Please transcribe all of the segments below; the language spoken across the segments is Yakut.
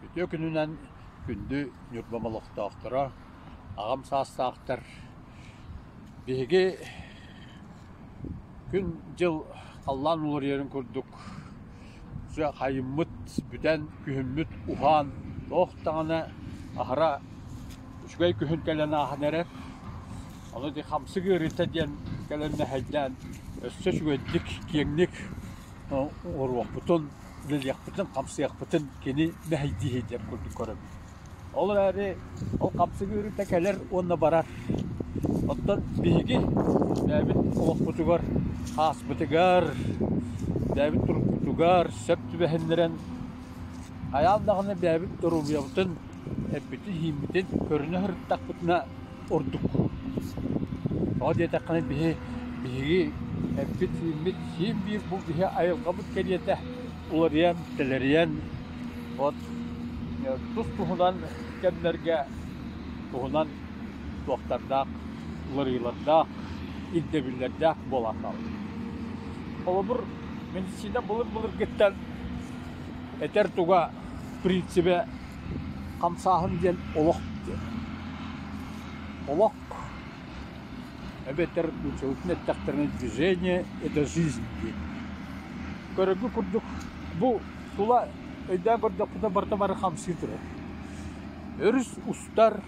Үтүө күнүнэн күндү Ньурбам олохтоохторо, аҕам саастаахтар, биһиги күн-дьыл халлаан уларыйарын курдук Хайыммыт бүтэн, күһүммүт уһаан туох даҕаны аһара үчүгэй күһүн кэлэн ааһан эрэр, ону ити хамсык ыарыыта диэн кэлэн мэһэйдээн өссө үчүгэйдик, киэҥник оҥоруохпутун, үлэлиэхпитин, хамсыахпытын кини мэһэйдиир диэн курдук көрөбүн Ол эрээри ол хамсыгы ырыта кэлэр уонна барар. Оттон биһиги бэйэбит олохпутугар, ааспытыгар, бэйэбит турукпутугар сөп түбэһиннэрэн хайаан даҕаны бэйэбит доруобуйабытын эппитин-иһиммитин көрүнэ сырыттахпытына ордук тоҕо диэтэххинэ биһи биһиги эппит сииммит сиим биир бу биһи айылҕабыт кэриэтэ уларыйан тэлэрийэн вот тус туһунан кэмнэргэ туһунан туохтардаах уларыйыылардаах ирдэбиллэрдээх буолан хаалбыт холобур медицина былыр былыргыттан этэр туга принципэ Хамсааһын диэн олох диэн. Олох эбэтэр нууччалыы эттэхтэринэ движение – это жизнь диэн. Көрөргө курдук бу тула өйдөөн көрдөхпүтүнэ бары-бары хамсыы турар. Өрүс устар,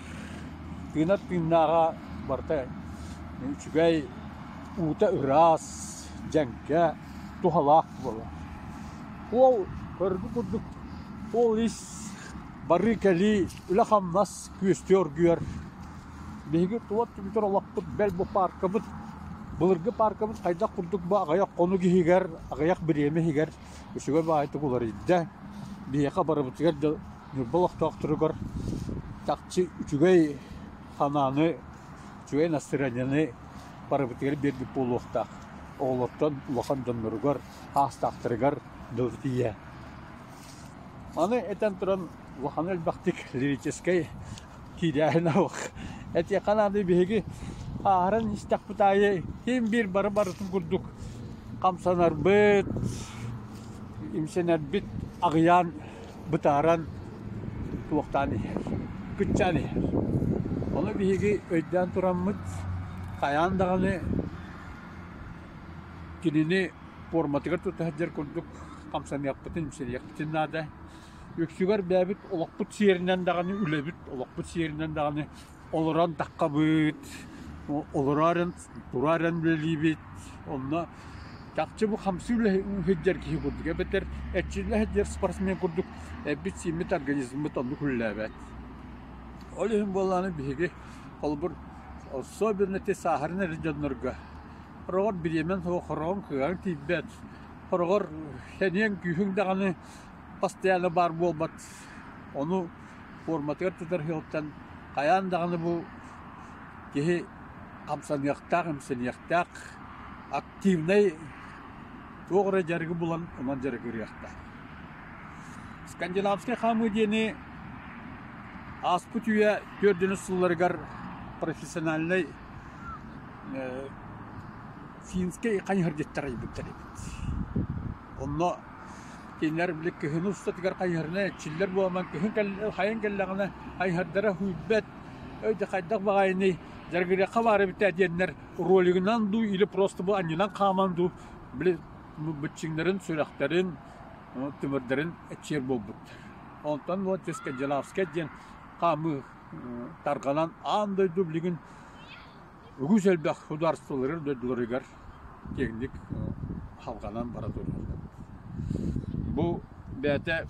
тыына тыыннааҕа барыта үчүгэй, уута ыраас, дьэҥкэ, туһалаах буолар. Уол көрөргө курдук Ол ис барыы-кэлии, үлэ-хамнас күөстүү оргуйар. Биһиги туот түбүтэр олохпут, бэл бу пааркабыт, былыргы пааркабыт хайдах курдук бу аҕыйах хонук иһигэр, аҕыйах бириэмэ иһигэр үчүгэй-баҕайытык уларыйда. Биһиэхэ барыбытыгар да Ньурба олохтоохторугар чахчы үчүгэй санааны, үчүгэй настроениены барыбытыгар биэрбит буолуохтаах. Оҕолортон улахан дьонноругар, саастаахтарыгар дылы тиийэ. Аны этэн туран улахан элбэхтик лирическэй киирээһинэх этиэххэ наада биһиги ааһарын истэхпит аайы ким биир бары барытын курдук хамсанарбыт, имсэнэрбит аҕыйаан бытааран туохтаан иһэр, кыччаан иһэр. Ону биһиги өйдөөн тураммыт, хайаан даҕаны кинини пуорматыгар тута сылдьар курдук хамсаныахпытын, имсэниэхпитин наада. Үксүгэр бэйэбит олохпут сиэринэн даҕаны, үлэбит олохпут сиэринэн даҕаны олорон таххабыт, олороо эрэн, тураа эрэн үлэлиибит. Онно чахчы бу хамсыы үлэ сылдьар киһи курдук эбэтэр эрчиллэ сылдьар спортсмен курдук эбит-сииммит организммыт оннук үлэлээбэт. Ол иһин буоллаҕына биһиги холобур особенно те сааһыран эрэр дьоннорго хороҕор бириэмэ суох хороҕун кыаҕын тиийбэт Хороҕор сэниэҥ күүһүҥ даҕаны постоянно баар буолбат. Ону форматыгар тутарыһыгыттан хайаан даҕаны бу киһи хамсаныахтаах, имсэниэхтээх, активнай туох эрэ дьарыгы булан онон дьарыгырыахтаах. Скандинавскай хаамыы диэни ааспыт үйэ түөрдүнүс сылларыгар профессиональнай Финскэй хань ыһырдьыттар айбыттар эбит. Онно кинилэр били кыһын устатыгар хайыһарына эрчиллэр буолан, кыһын кэл- хайан кэллэҕинэ хайыһардара һуйбэт, «Өй да хайдах баҕайыный, дьарыгырыахха баар эбиттээ» диэннэр ролигынан дуу или просто бу анньынан хааман дуу били бу быччыҥнарын, сүрэхтэрин, ы тымырдарын эчиэр буолбут. Онтон Волческая Джалавская диэн хаамыы ы тарҕанан аан дойду билигин Үгүс элбэх судаарыстыбалары дойдуларыгар киэҥник халҕанан бара туруохтаах. Бу бэйэтэ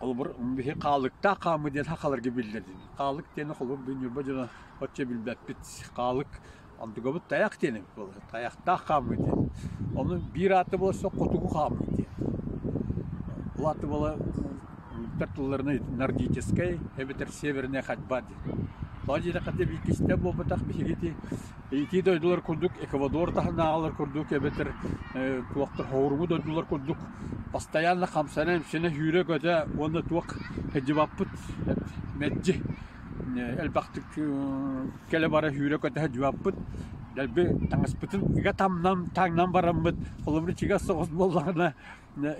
холобур биһи хаалыктаах хааммыт диэн хахаларга биллэрдин. Хаалык диэни холобур ньурба дьоно оччо билбэппит. Хаалык онтугабыт тайах диэн эбит буолар. Тайахтаах хаамыы диэн. Ону биир ааты буола суох хотугу хаамыы диэн. Ол ааты буола уруктар тылларына нордическай эбэтэр северная ходьба диэн. Тоҕо диэтэххэ бииргистэ буолбатах биһигити ити дойдулар курдук Эквадор таһынааҕылар курдук эбэтэр туохтар хоһуруму дойдулар курдук постоянно хамсана-имсэнэ сүүрэ-көтө уонна туох сылдьыбаппыт мэлдьи элбэхтик кэлэ-бара сүүрэ-көтө садьыбаппыт. Дэлби таҥаспытын ыга тамнан, таҥнан бараммыт. Холобура чигэс соҕус буоллаҕына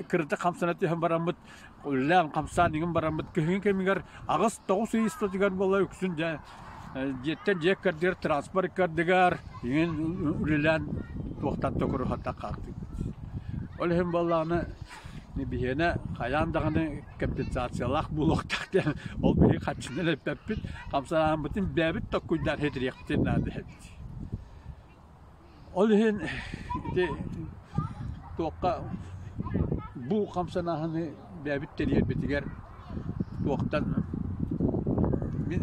кырдык хамсана түһэн бараммыт, үлэлээн хамсаан иҥин бараммыт. Күһүҥҥү кэмигэр аҕыс тоҕус ый устатыгар буола үксүн дьэ дьиэттэн дьиэ ыккардыгар транспорт ыккардыгар иҥин үлэлээн туохтан да куруһатта хаалбыт. Ол иһин буоллаҕына Биһиэнэ хайаан даҕаны компенсациялаах буолуохтаах диэн ол биһиги харчынан эппэппит, хамсанаабытын бэйэбит токкуйдаан хэтириэхпитин наада эбит. Ол иһин ити туохха бу хамсанааһыны бэйэбит тэрийэрбитигэр туохтан мин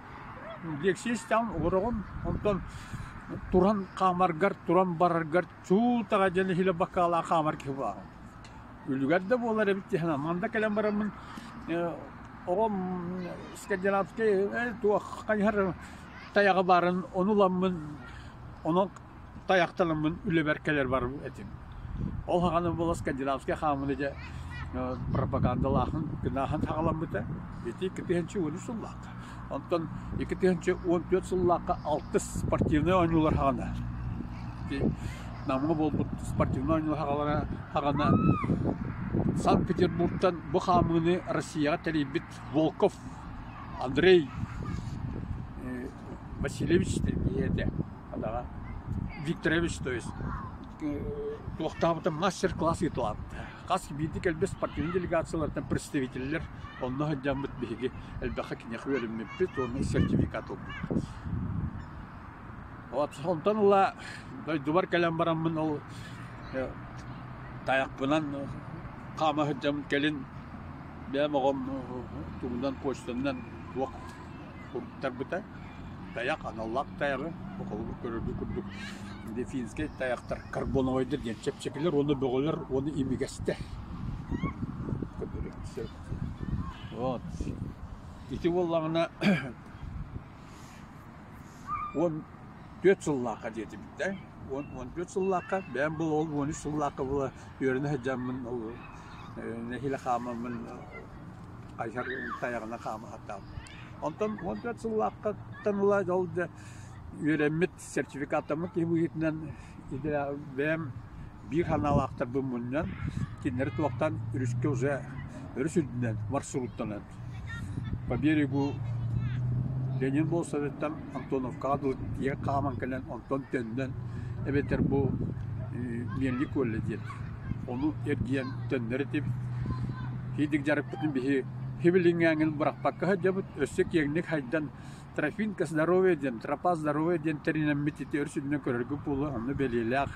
Лексистээн олороҕун, онтон туран хаамаргар, туран бараргар чуутаҕа диэн иһилэ бакаалаах хаамар киһи бааҕын. Үлүгэр да буолар эбит дии санаам. Манна кэлэн бараммын ээ оҕом скандинавскай ээ туохха хайыһар тайаҕа баарын ону ыламмын онон тайахтанаммын үлэбэр кэлэр барбыт этим. Ол саҕана буола скандинавскай хааммыны дьэ пропагандалааһын гынаһын саҕаламмыта. Ити икки тыһыынча уон үс сыллаахха. Онтон икки тыһыынча уон түөрт сыллаахха алтыс спортивнай оонньуулар саҕана. Ити Намҥа буолбут спортивнай оонньуулар саҕалара саҕана Санкт-Петербургтан бу хаамыыны Россияҕа тэрийбит Волков Андрей Васильевич тэрийбитэ. Даҕа Викторович, то есть туохтаабытым мастер-класс ыытылаабыта. Хас биирдии кэлбит спортивнай делегациялартан представителлэр онно сылдьаммыт биһиги элбэххэ киниэхэ үөрэммиппит уонна сертификат ылбыппыт. Вот онтон ыла дойдубар кэлэн бараммын ол тайахпынан хаама сылдьаммын кэлин бэйэм оҕом тугунан почтанан туох куттарбыта. Тайах аналлаах тайаҕы холобур көрөргө курдук дельфинскэй тайахтар карбоновойдар диэн чэпчэкилэр уонна бөҕөлөр уонна имигэстэр. Вот. Ити буоллаҕына он түөрт сыллаахха диэти бүттэ. Он он түөрт сыллаахха бэйэм был ол он үс сыллаахха була үөрэнэ сылдьаммын ол нэһилэ хаамаммын Айар тайаҕына хаамыһатаабыт. Онтон уон түөрт сыллаахтан ыла ол да үөрэммит сертификаттаммыт киһи быһыытынан бэйэм биир санаалаахтарбын мунньан кинилэри туохтан өрүскэ уже өрүс үрдүнэн маршруттанан по берегу Ленин болсоветтан Антоновкаҕа дылы тиийэ хааман кэлэн онтон төннөн эбэтэр бу Миэнли колледж диэн Ону эргийэн төннөр этибит. Һиидик дьарыкпытын биһи хибилиҥҥээҥил бырахпакка сылдьабыт. Өссө киэҥник хайдан «Трофимка здоровья» диэн, «Тропа здоровья» диэн тэринэммит ити өр сиринэн көрөргө буолуо, онно бэлиэлээх.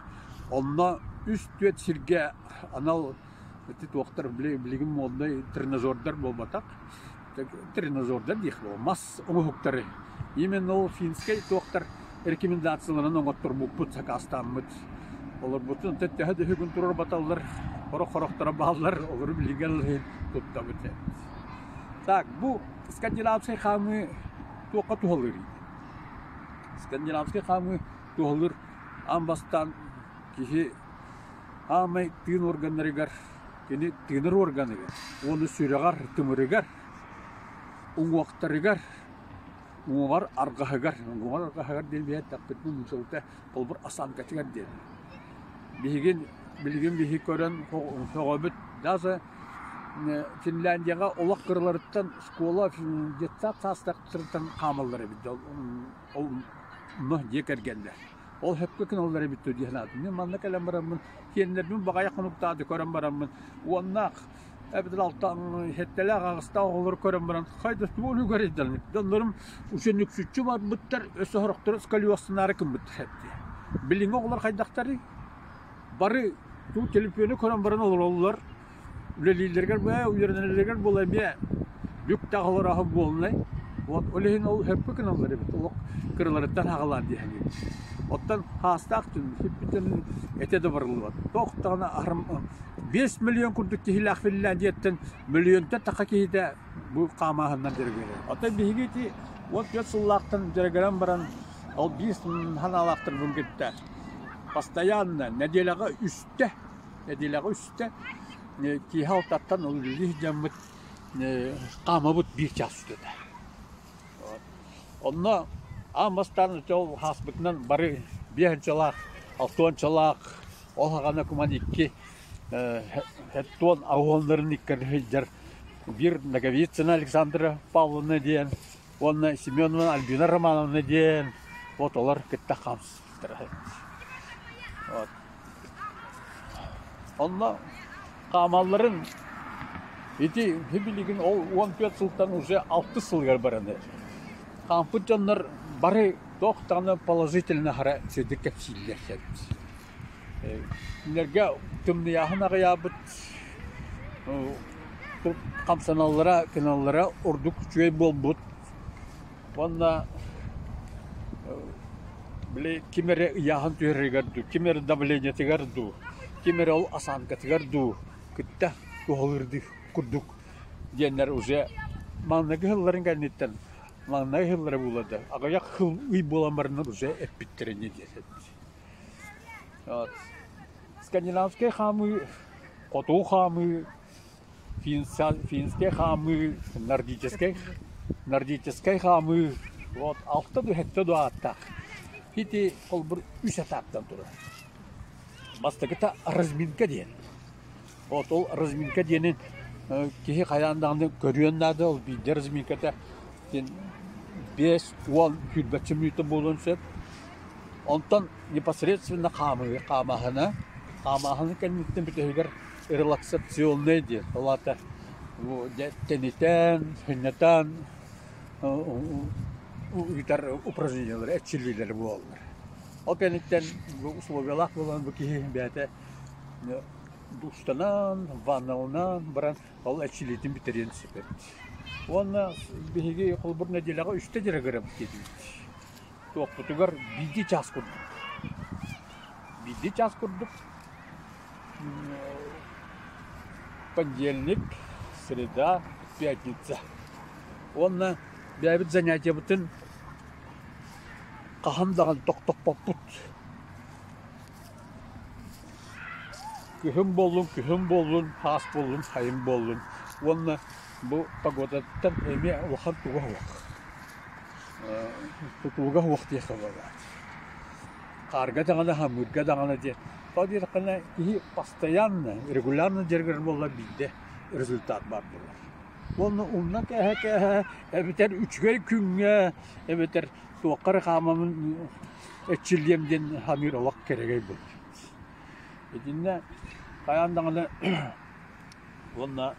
Онно үс-түөрт сиргэ анал ити туохтар билигин моднай тренажердар буолбатах. так тренажердар диэххэ мас оҥоһуктары именно ол финскэй туохтар рекомендацияларын оҥотторбуппут сакаастааммыт олорбутун төттөһө да үһүгүн турар баталлар хорох хорохторо бааллар олору билигин туттабыт так бу скандинавскай хаамыы туохха туһалыырый скандинавскай хаамыы туһалыыр аан бастаан киһи аамай тыын органнарыгар Кини тыынар уорганыгар уонна сүрэҕэр-тымырыгар, уҥуохтарыгар, уҥуоҕар аргаһыгар, уҥуоҕар аргаһыгар диэн биэртэхпитинэ нуучалыта холбор осанкатыгар диэн. Биһигин билигин биһи көрөн сөҕөбүт даже Финляндияҕа олох кыраларыттан школа детсад саастахтарыттан хаамаллар эбит да ол онно дьиэ кэргэннэр Ол хөпкө гыналлар эбит дии санаатым. Мин манна кэлэн бараммын, сиэннэрбин баҕайы хонуктааты көрөн бараммын, уоннаах эбитин алта хеттелээх аҕыстаах оҕолору көрөн баран, хайда тугу өлүгэр ыйдалмыт. Доннорум учен үксүччү барбыттар, өс сорохтору сколиоссынаары кымбыттар эбди. Билиҥҥи оҕолор хайдахтарый? Бары туу телепиону көрөн баран олороллор, Үлэлииллэригэр бу ээ үөрэнэллэригэр буолла эмиэ бүк да аҕалар аһы буолунай. Вот ол иһин ол өһөккө гыналлар эбит олох кыраларыттан аҕалаан диэһэҥҥин. Оттон хаастаах түмсүппүттэн этэ да барыллыбат. Туох даҕаны аһарым биэс мөлүйүөн курдук киһилээх Финляндия дьиэттэн мөлүйүөнтэн таха киһитэ бу хаамааһынынан дьарыгырар. Оттон биһиги ити уот түөрт сыллаахтан дьарыгыран баран ол биир санаалаахтарбын кытта постоянно нэдиэлэҕэ үстэ Нэдиэлэҕэ үстэ киэһэ алтаттан ол үлэлии сылдьаммыт хаамабыт биир чаас устата. Онно аан бастаан ааспытынан бары биэс инчалаах, алта уончалаах ол һаҕана куман икки уоннарын иккитэ сылдьар биир Ноговицына Александра Павловна диэн уонна Семеновна Альбина Романовна диэн вот олор кытта хаамсыбыт. Онно хаамалларын ити билигин ол уон түөрт сылтан уже алтыс сылыгар бараны хаампыт дьоннор бары туох даҕаны положительно хара сирдик кэпсииллэр сэрбит. Кинилэргэ тымныйааһын аҕыйаабыт хамсаналлара, кыналлара ордук үчүгэй буолбут. Уонна били ким эрэ ыйааһын түһэрэригэр дуу, ким эрэ давлениетыгар дуу, ким эрэ ол осанкатыгар дуу кытта туһалыырдыы курдук диэннэр уже маҥнайгы ыһылларын кэнниттэн маҥнай ыһыллара буоллар да аҕыйах ыһыл ый буолан бараннар уже эппиттэрэ ини диэтэр скандинавскай хаамыы, хотуу хаамыы финскэй хаамыы, нордическай, нордическай хаамыы вот алта да сэттэ да ааттаах. Ити холбур үс этаптан турар. Бастакыта разминка диэн. Вот ол разминка диэнин киһи хайаан даҕаны көрүөн наада, ол биирдэ разминката диэн биэс уон сүүрбэччэ мүнүүтэ буолуон сөп. Онтон непосредственно хаамыы, хаамааһына. Хаамааһыны кэнниттэн бүтэһигэр релаксационная диеталата тэнитэн хынньатан ыытар упражнениялары эрчиллиилэрэ буолаллар ол кэнниттэн условиялаах буолан бу киһи бэйэтэ душтанан ванналанан баран ол эрчиллиитин бүтэриэн сөп уонна биһиги холобур нэдиэлэҕэ үстэ дьарыгырам диэбит туохпутугар биирдии час курдук биирдии час курдук понедельник, среда, пятница. Уонна бэйэбит занятиебытын хаһан даҕаны тохтоппоппут. Күһүн буоллун, күһүн буоллун, хаас буоллун, сайын буоллун. Уонна бу погодаттан эмиэ улахан туга уох. Тутууга уох диэхэ баҕа. Хаарга даҕаны, хамыырга даҕаны диэн Ол диэтэххинэ, киһи постоянно, регулярно дьарыгырар буоллар биирдэ результат баар буолар. Уонна умна кэһэ-кэһэ эбэтэр үчүгэй күҥҥэ эбэтэр туохха эрэ хаамамын эччиллиэм диэн саныыр олох кэрэгэй буолар. Итиннэ хайаан даҕаны уонна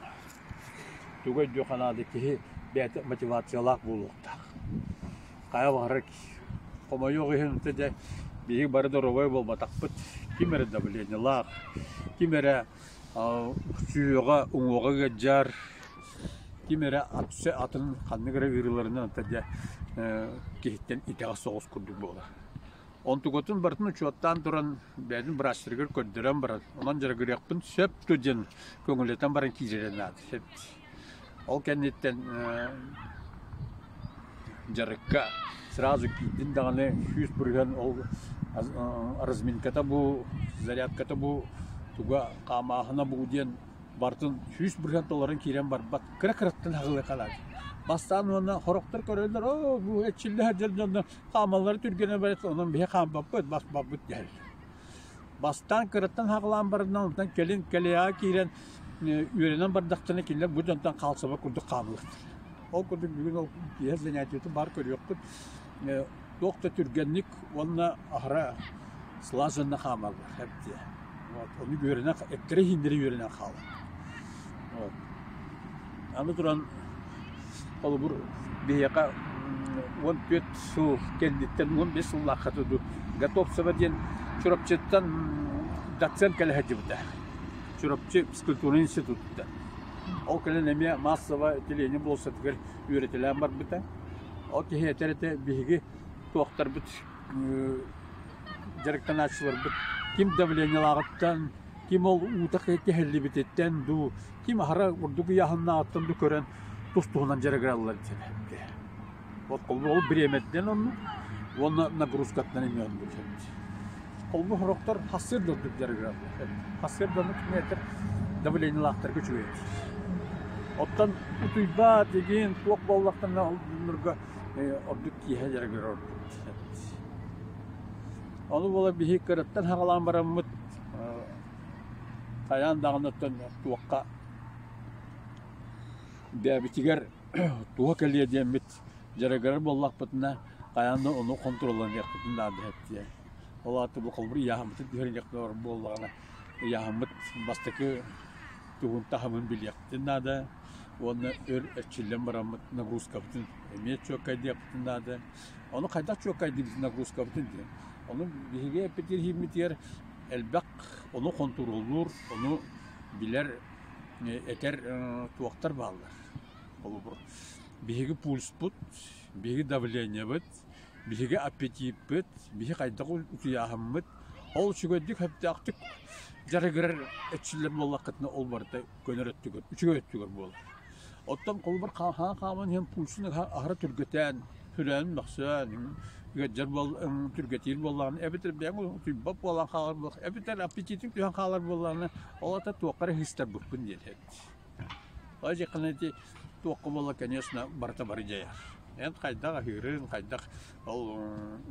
тугай дьо ханаада киһи бэйэтэ мотивациялаах буолуохтаах. хайа баҕарар хомойуох иһин дэ биһиги бары доруобай буолбатахпыт ким эрэ давлениелаах ким эрэ сүөҕэ уҥуоҕа ыалдьар ким эрэ апсе атын ханнык эрэ ыарыыларынан дэ киһиттэн итэҕэс соҕус курдук буолар онтукотун барытын учуоттаан туран бэйэтин быраастарыгар көрдөрөн баран онон дьарыгырыахпын сөп ту диэн көҥүллэтэн баран киирэрэ наада сөп Ол кэнниттэн дьарыкка сразу киирдин даҕаны сүүс бырыһыан ол разминката бу, зарядката бу, туга хаамааһына бу диэн барытын сүүс бырыһыан толорон киирэн барбат кыра-кыраттан аһылыахалаах. Бастаан уонна сорохтор көрөллөр оо бу эчиллэ сылдьар дьонно хаамаллара түргэнэ барыт онон биһи хаампаппыт бас баппыт диэһэллэр Бастаан кыраттан хаалаан бараннан онтон кэлин кэлиаҕа киирэн үөрэнэн бардахтына кинилэр бу дьонтон хаалсыбат курдук хаалбыттар. Ол курдук бүгүн ол киэһэ занятиетын баар көрүөххүт. Туох да түргэнник уонна аһара слаженно хаамаллар эбитэ. Вот, ону үөрэнэ, эккирэ-иһиннэрэ үөрэнэн хаалар. Оо, аны туран холобур биһиэхэ уон түөрт сыл кэнниттэн уон биэс сыллааххата дуу Готовцева диэн Чурапчыттан доцент кэлэ сылдьыбыта. Чурапчы физкультурнай институттан. Ол кэлэн эмиэ массово отделение буолсатыгар үөрэтэлээн барбыта. Ол киһиэтэ эрэ биһиги туохтарбыт дьарыктанааччыларбыт ким давлениелааҕыттан ким ол уута кэһиллибититтэн дуу, ким аһара ордук ыйааһыннаахыттан дуу көрөн тус-туһунан дьарыгыраллар диэбэттэр. От холбоол бириэмэтинэн оннук уонна нагрузкаттан эмиэ өлбүтэр. Холбу сорохтор хассыырдардык дьарыгыраллар. Хассыырдардык миэтэр давлениелаахтарга үчүгэй. Оттон утуйбаат игин туох буоллахтарга ордук киэһэ дьарыгырар ордук. Ону буола биһи кыраттан хаҕалаан бараммыт Хайаан даҕаны оттон туохха диабетигэр туһа кэлиэ диэммит дьарыгырар буоллахпытына, хайаан да ону хонтуруолланыахпытын наада эттиэ. Ол аата бу холобур ыйааһыммытын түһэриниэхпин баҕарар буоллаҕына, ыйааһыммыт бастакы тугун таһымын билиэхпитин наада уонна өр эрчиллэн бараммыт нагрузкабытын эмиэ чуолкайдыахпытын наада. Ону хайдах чуоккайдыыбыт нагрузкабытын диэн. Ону биһиги эппитиирһииммитигэр элбэх ону хонтуруоллуур, ону билэр, этэр туохтар бааллар. Холобур, биһиги пульспут, биһиги давлениебыт, биһиги аппетиппыт, биһи хайдах утуйааһыммыт ол үчүгэйдик сөптөөхтүк дьарыгырар эчиллэр буоллаххытына ол барыта көнөр өттүгэр, үчүгэй өттүгэр буолар. Оттон холобур хаһаан хааман иһэн пуучуну аһара түргэтээн, хүрээн мөхсөн, ыалдьар түргэтиир буоллаҕына, эбэтэр бэйэҥ утуйбат буолан хаалар буоллаҕына, эбэтэр аппетитиҥ түһэн хаалар буоллаҕына, ол ата туохха эрэ ыһыстарбыппын диэн эбит. Ол дьиэхэнэ ити туохха буолла, конечно, барыта бары дьайар. Эн хайдах аһыырын, хайдах ол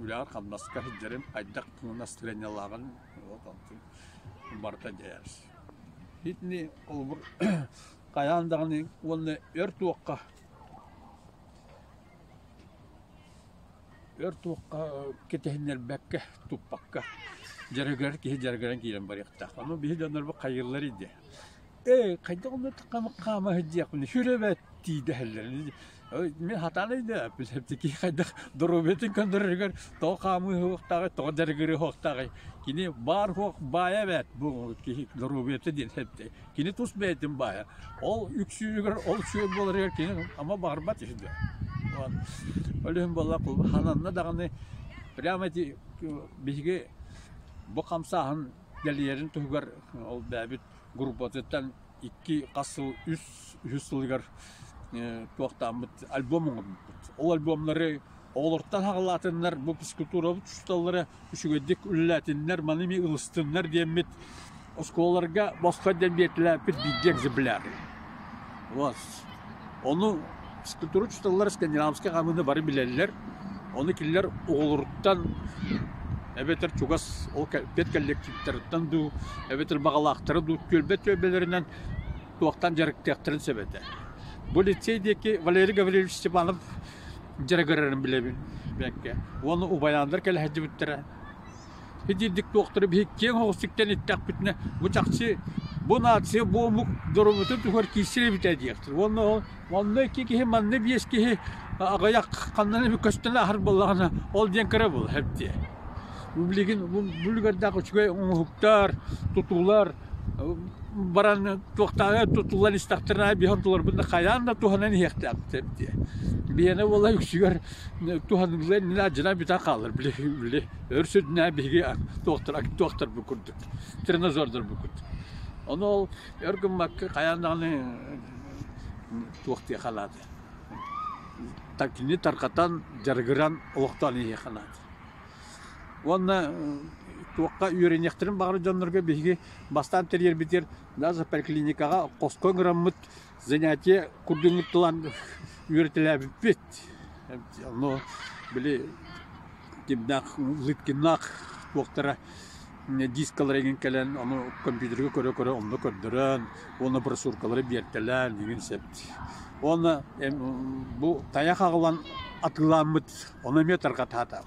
үлэҕэр-хамнаска сылдьарын, хайдах кыҥнас тренерлааҕын вот онтун барыта дьайар. Итини холобур хайаан даҕаны уонна өр туохха өр туохха кэтэһиннэрбэккэ туппакка дьарыгырар киһи дьарыгыран киирэн барыахтаах ону биһи дьоннорбут хайыыллар дии ээ хайдах онно хаама сылдьыахпын сүрэбэт дии дэһэллэр Мин хатаныйда эпилептики хайдах доруобетин көндөрөрүгэр то хаамыы хуохтаҕы, то дьарыгыры хуохтаҕы. Кини баар хуох баайа эбээт бу киһи доруобуйата диэн эбдэ. Кини тус бэйэтин баайа. Ол үксүгэр ол сүөм буоларыгар кини ама баҕарбат үһү да. Өлүһүн болла хананна даҕаны прямо ити биһиги бу хамсааһын дэлийэрин туһугар ол бэйэбит группатыттан икки-хас сыл, үс, үһүс сылыгар туохтааммыт альбом оҥорбуппут. Ол альбомнары оҕолортон хаҕылаатыннар, бу физкультурабыт учууталлара үчүгэйдик үлэлээтиннэр, маны эмиэ ылыстыннар диэммит, оскуолаларга босхо диэн биэртилээппит биирдии экземпляр. Вот, Ону скульптуручусталар скандинавскай хаамыыны бары билэллэр. Ону кинилэр оҕолоруттан эбэтэр чугас ол кэлпиэт коллективтарыттан дуу, эбэтэр баҕалаахтара дуу түөлбэ түөлбэлэринэн туохтан дьарыктыахтарын сөп этэ. Бу лицей диэки Валерий Гаврильевич Степанов дьарыгырарын билэбин бэккэ. Уонна Убайаандар кэлэһэддьибиттэрэ Һидиирдик туохтары биһи киэҥ оҕустуктан иттэхпитинэ, бу чахчы бу нация бу омук дорумутун туһугар киирсэр эбит ээ диэхтэр. Уонна ол онно икки киһи, манна биэс киһи аҕыйах ханнан эмэ көстөн ааһар буоллаҕына, ол диэн кыра буолар эбитэ. Бу билигин бу үлүгэрдээх үчүгэй оҥоһуктар, тутуулар баран туохтааҕы тутуллан истэхтэринэ биһи ортолорбут хайаан да туһанан иһиэхтээхтэр эбитэ. Биһиэнэ буола үксүгэр туһаныылар иннинэ адьына бүтэн хаалар били били. Өр сүрдүнэ биһиги туохтарбыт курдук, тренозордорбут курдук. Ону ол өр гыммакка хайаан даҕаны туох диэ халааты. Кини тарҕатан, дьарыгыран олохтоон иһиэх халааты. Уонна туохха үөрэниэхтэрин баҕарар дьоннорго биһиги бастаан тэрийэрбитигэр даже поликлиникаҕа хоско ыҥыраммыт занятие курдугуттулан үөрэтэлээбиппит но били кимнээх лыткиннаах уоктара дискалара игин кэлэн ону компьютерга көрө-көрө онно көрдөрөн уонна брошюркалары биэртэлээн игин сэп уонна бу тайах аҕылан атыылааммыт ону эмиэ тарҕатаата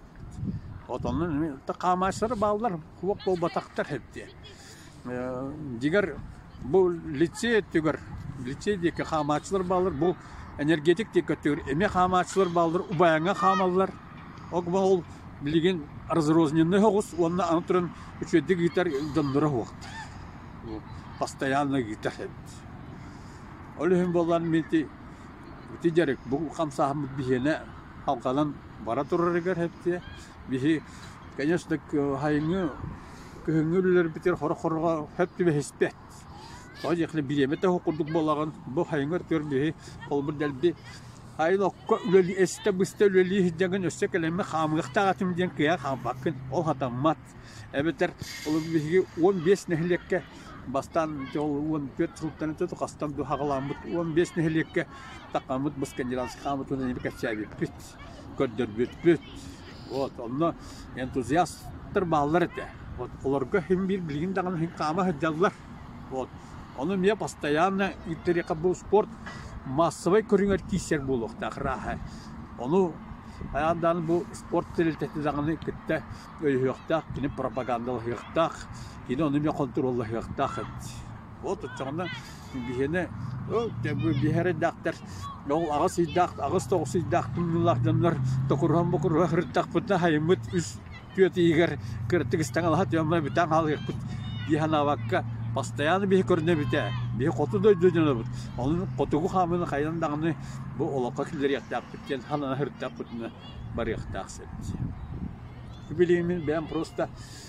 вот оннун хаамааччылары бааллар уох буолбатахтар эбдиэн Дигэр бу лицей өттүгэр лицей диэки хаамааччылар бааллар бу энергетик диэки өттүгэр эмиэ хаамааччылар бааллар убайаҥҥа хаамаллар ок бу ол билигин разрозненнай оҕус уонна аны туран үчүгэйдик ыытар дьонноро уһуохтар постоянно ыытар эбит ол иһин буоллар мин ити ити дьарык бу хамсааһыммыт биһиэнэ халҕанан бара турарыгар эптиэ биһи конечно хайыҥы Күһүҥҥү үлэлэрбитигэр хорох-хороҕо сөп түбэһиспэт. Тоҕо диэхинэ бириэмэ да уһук курдук буолаҕын, бу сайыҥҥы өр-түөрдүһү холбур дэлби айылокко үлэлии, эстэ-быста үлэлии сылдьаҥын өссө кэлэммэ хаамыахтаах этим диэн кыайан хаампаккын. Ол сатаммат. Эбэтэр ол биһиги уон биэс нэһилиэккэ бастаан уон түөрт сылтан итинтэ хастан дуу саҕаламмыт уон биэс нэһилиэккэ такааммыт Быскандинавский хааммытын эмиэ кэпсээбиппит. көрдөрбүппүт. Вот онно энтузиастар бааллар этэ. Вот олорго хим биир билигин даҕаны хим хаама сылдьаллар. Вот ону эмиэ постоянно ирдэриэхэ бу спорт массовай көрүҥэр киирсэр буолуохтаах ырааһа. Ону хайаан даҕаны бу спорт тэрилтэтэ даҕаны кытта өйөһүөхтээх, кини пропагандалаһыахтаах, кини ону эмиэ хонтуруоллаһыахтаах эбит. От ыччаҕына биһиэнэ ол биһэрэйдэахтэр ол аҕыс ыйдаах аҕыс тоҕус ыйдаах тымныылаах дьоннор токуруһан-бокуруһан сырыттахпытына хайыммыт үс түөрт иһигэр кыраттык истэҥ алаһа түөмэ бүтэн хаалыахпыт дии санаабакка постоянно биһи көрүнэбит ээ биһи хоту дойду дьонобут онон хотугу хаамыыны хайдан даҕаны бу олоххо киллэриэхтээхпит диэн санаан сырыттахпытына барыахтаах сир билигин бэйэм просто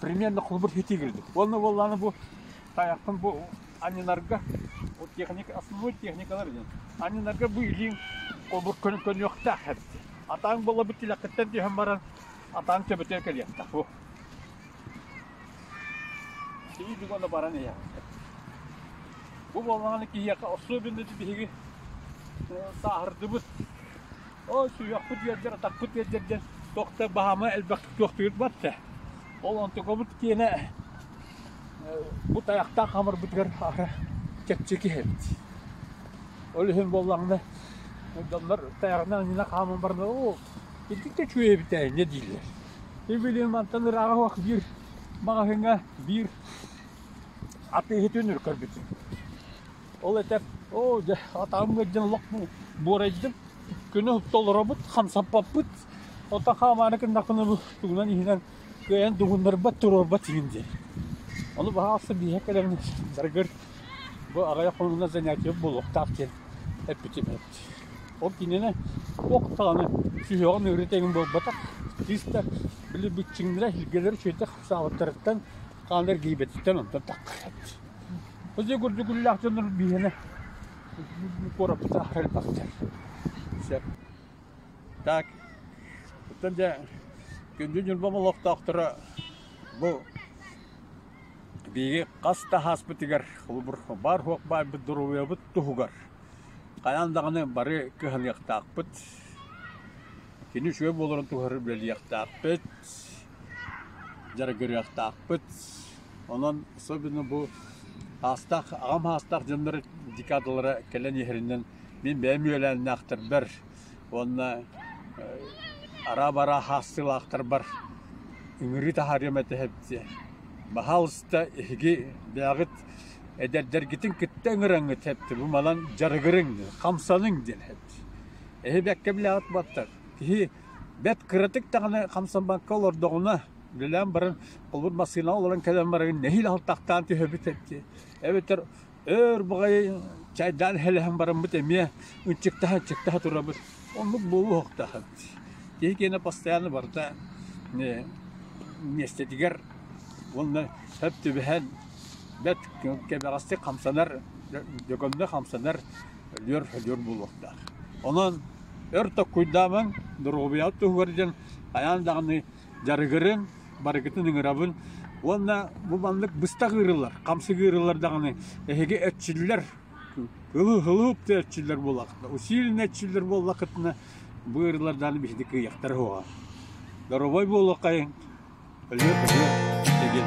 Примерно холобур ситии кэлбит. Уонна буоллаҕына бу тайахпын бу анньынарга вот техник, основной техникалар диэн анньынарга быылыын кобур көнө көнүөхтээх эбит. Атаан буолабыт тилэххиттэн түһэн баран атаан төбөтө кэлиэхтээх бу. Киһи уонна баран иһээхтэр. Бу буоллаҕына киһиэхэ особенно биһиги сааһырдыбыт Ол сүһүөхпут үөрдэр, атахпыт үөрдэр диэн тохта баһаама элбэхтик туохтуйут батта. Ол онтугабыт киэнэ бу тайахтаах хамарбытыгар аара чэпчэки эбит. Ол иһин буоллаҕына доннор тайаҕынан анньына хааман барна оо итинтэ чүе битэ не дийлэр. Ибилин мантан ырааҕа уох биир маҕаһыҥа биир атыыһытын үркөрбүтүн. Ол этэр, оо, дьэ, атаҕым ыалдьан олох буорайдым, күнү утта олоробут, хамсаппаппыт, оттон хаамаары гыннахпына бу тугунан иһинэн кыайан дугуннарбат, туруорбат иһин диэн. Ону баҕа ахсын биһиэхэ кэлэмин барыгар бу аҕайах хонугунан занятиебыт буолуохтаах диэн эппитим эбит. Ол кинини туох даҕаны сүһүөҕүн ыарыы тегин буолбатах, кыыс да били бүччүҥнэрэ, илгэлэрэ үчүгэйдик хамсаабыттарыттан, хаанар гийбэтиттэн онтон таххар эбит. Хозя гурдугуллаах дьоннор биһиэнэ куораппыта хальбахтар. Сөп. Так, оттон дьэ, күндү Ньурбам олохтоохторо бу биһиги хас да хааспытыгар холобур баар-хуох баайбыт доруобуйабыт туһугар хайаан даҕаны бары кыһалыахтаахпыт. Кини үчүгэй буоларын туһугар үлэлиэхтээхпит, дьарыгырыахтаахпыт. Онон особенно бу аастаах, аҕам аастаах дьоннор декадалара кэлэн иһэринэн мин бэйэм үөлээннээхтэрбэр уонна араа-бараа хаастыылаахтарбар ыҥырыы таһаарыам этэ эбитэ. Баһаалыста эһиги бэйэҕит эдэрдэргитин кытта ыҥыраҥҥыт эбитэ. Бу малан дьарыгырыҥ, хамсаныҥ диэн эбит. Эһи бэккэ билээҕит буолтар, киһи бэрт кыратык даҕаны хамсаммакка олордоҕуна Үлэлээн баран холбур массыынаҕа олорон кэлэн баран нэһиилэ алтахтаан түһэбит эти эбэтэр өр баҕайы чайдаан хэлэһэн бараммыт эмиэ ынчыктаһа ынчыктаһа турабыт оннук буолуо охтаһан киһи киэнэ постоянно барыта миэстэтигэр уонна сөп түбэһэн бэрт кэбэҕэстик хамсанар дьөгөмнө хамсанар өлүөр өлүөр буолуохтаах онон өр токкуйдаамаҥ доруобуйаҕыт туһугар диэн хайаан даҕаны дьарыгырын, барыгытын ыҥырабын уонна бу маннык быстах ыырылар, хамсык ыырылар даҕаны эһиги эрчиллэр ылып да эрчиллэр буоллахытына, усиленно эрчиллэр буоллахытына, бу ыырылар даҕаны биһиги кыйахтара суоҕа. Доробой буоллаххайын, өлүө-көлүө, тэгин.